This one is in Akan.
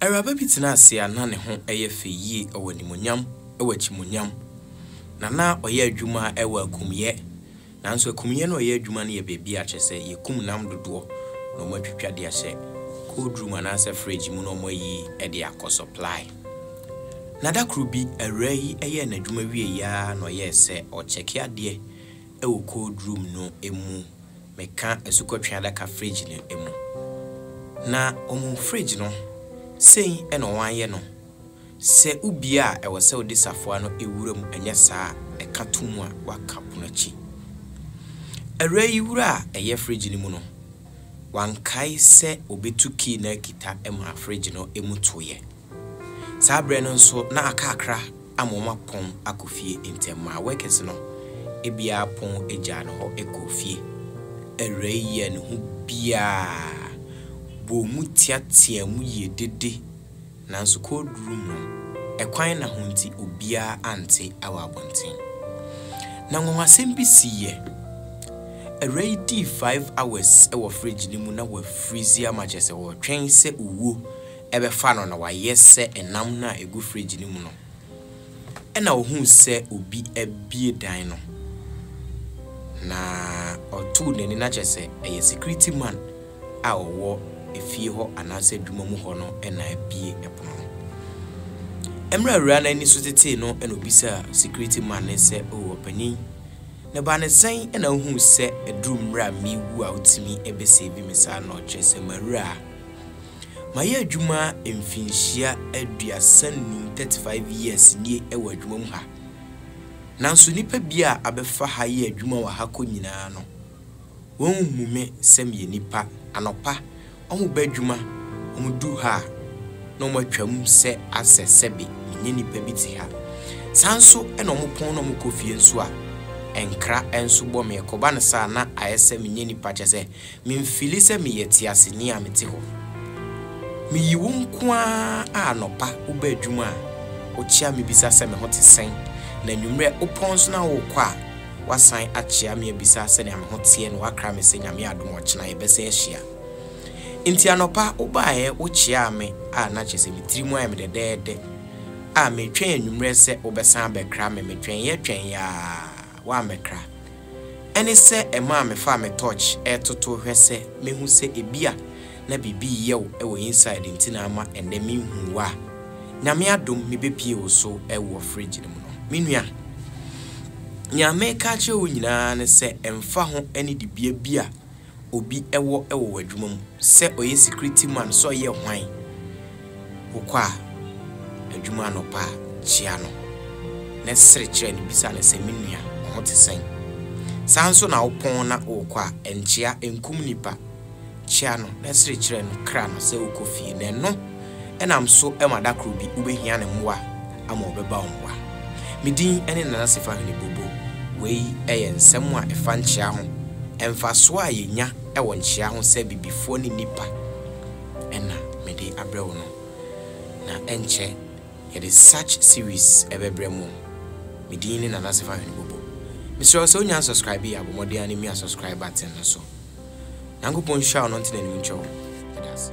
Awuraba bi tenaa ase a na ne ho yɛ fɛ yie, ɔwɔ animuonyam, ɔwɔ akyimuonyam, na na ɔyɛ adwuma wɔ akumyɛ. Nanso akumyɛ no a ɔyɛ adwuma no yɛ baabi a kyerɛ sɛ yɛkum nam dodoɔ na wɔatwitwa de ahyɛ cold room anaasɛ fridge mu na wɔayi de akɔ supply. Na da koro bi awuraa yi yɛɛ n'adwuma wieeɛ ara na ɔyɛɛ sɛ ɔrekyɛke adeɛ wɔ cold room no mu, meka asukɔtwe adaka fridge no mu. Na ohun fridge no, sei na wɔayɛ no, sɛ wubie a ɛwɔ sɛ wode safoa no wura mu anyɛ saa a ɛka to mu a woaka pono akyi. Awuraa yi wura a ɛyɛ fridge no mu no, wankae sɛ obetu key no akita maa fridge no mu toeɛ. Saa berɛ no nso na aka akra ama wɔn apɔn akɔ fie nti ɛmaa workers no biara pɔn gyaa no hɔ kɔɔ fie. Awurai yi a ne ho biaa bɔɔ mu teateaa mu yie dede nanso cold room no ɛkwan na ho nti obiara ante wɔ abɔnten. Na nwanwasɛm bi siiɛ. Awurai yi dii five hours wɔ fridge no mu na wafreeze ama kyerɛ sɛ ɔretwɛn sɛ owuo bɛfa no na wayɛ sɛ nam no a egu fridge no mu no. Ɛnna ohuu sɛ obi abue dan no, na ɔtoo n'ani na kyerɛ sɛ ɛyɛ security man a ɔwɔ efie hɔ anaasɛ adwuma mu hɔ no na abue pono no. Mmerɛ a awuraa no ani so tetee no na obisaa security man no sɛ, Oh, ɔpanyin, ne ba no sɛn na wohuu sɛ aduru mmerɛ a mewu a wotumi bɛsave me saa no, kyerɛ sɛ mawura a? Mayɛ adwuma mfinhyia aduasa nnum, thirty five years, nie wɔ adwuma mu ha. Nanso nnipa bi a abɛfa ha yɛ adwuma wɔ ha kɔ nyinaa no, wɔnhu me sɛ meyɛ nipa. Anɔpa, wɔn ba adwuma, wɔn du ha a, na wɔn atwam sɛ asɛ sɛbe menyɛ nipa bi te ha. Saa nso na wɔn pɔn na wɔn kɔ fie nso a, nkra nso bɔ me. Ɛkɔba no saa a, na ayɛ sɛ menyɛ nipa kyɛ sɛ Memfili sɛ meyɛ teaseni a mete hɔ. Miyi wo nko ara a anɔpa woba adwuma a wokyea me bisa sɛ me ho te sɛn na anwummerɛ wopɔn nso na worekɔ a woasan akyea me abisa sɛnea me ho teɛ na woakra me sɛ Nyame adom a ɔkyena yɛbɛsan ahyia nti anɔpa wobaeɛ wokyeaa me a na kyerɛ sɛ me tiri mu ayɛ me dɛdɛɛdɛ a meretwɛn anwummerɛ sɛ wobɛsan abɛkra me metwɛneeɛ twɛneeɛ a woammɛkra Ɛne sɛ ɛmaa mefaa me torch retoto hwɛ sɛ mehu sɛ ebia na biribi reyɛ wo wɔ inside nti na ama ɛnnɛ menhuu wo a. Nyame adom mebɛpie wo so wɔ fridge no mu no. Me nua, nea mereka akyerɛ wo nyinaa ne sɛ ɛmfa ho ne dibea bi a obi wɔ wɔ w'adwuma mu, sɛ ɔyɛ security man, sɛ ɔyɛ hwan, wokɔ a adwuma anɔpa a, kyia no na sere kyerɛ no, bisa no sɛ, me nua, wo ho te sɛn? Saa nso na wopɔn na wokɔ a, nkyia, nkum nipa, kyia no na sere kyerɛ no, kra no sɛ wokɔ fie, na ɛno nam so ma da koro bi wobɛhia ne mmoa a, ama wɔbɛba wo mmoa. Me din ne Nana Sifa Hwene Bobo. Wei yɛ nsɛm a ɛfa nkyea ho, mfasoɔ a yɛnya wɔ nkyea ho sɛ Bibifoɔ ne nnipa ɛna mede abrɛ wo no. Na ɛnkyɛ yɛde such series bɛbrɛ mo. Me din ne Nana Sifa Hwene Bobo. Mesrɛ wo sɛ wonya unsubscribe a, bɔ mmɔden ara na mia subscribe button no so. Nyankopɔn nhyira wo na ɔntene anim nkyɛ wo. Meda ase.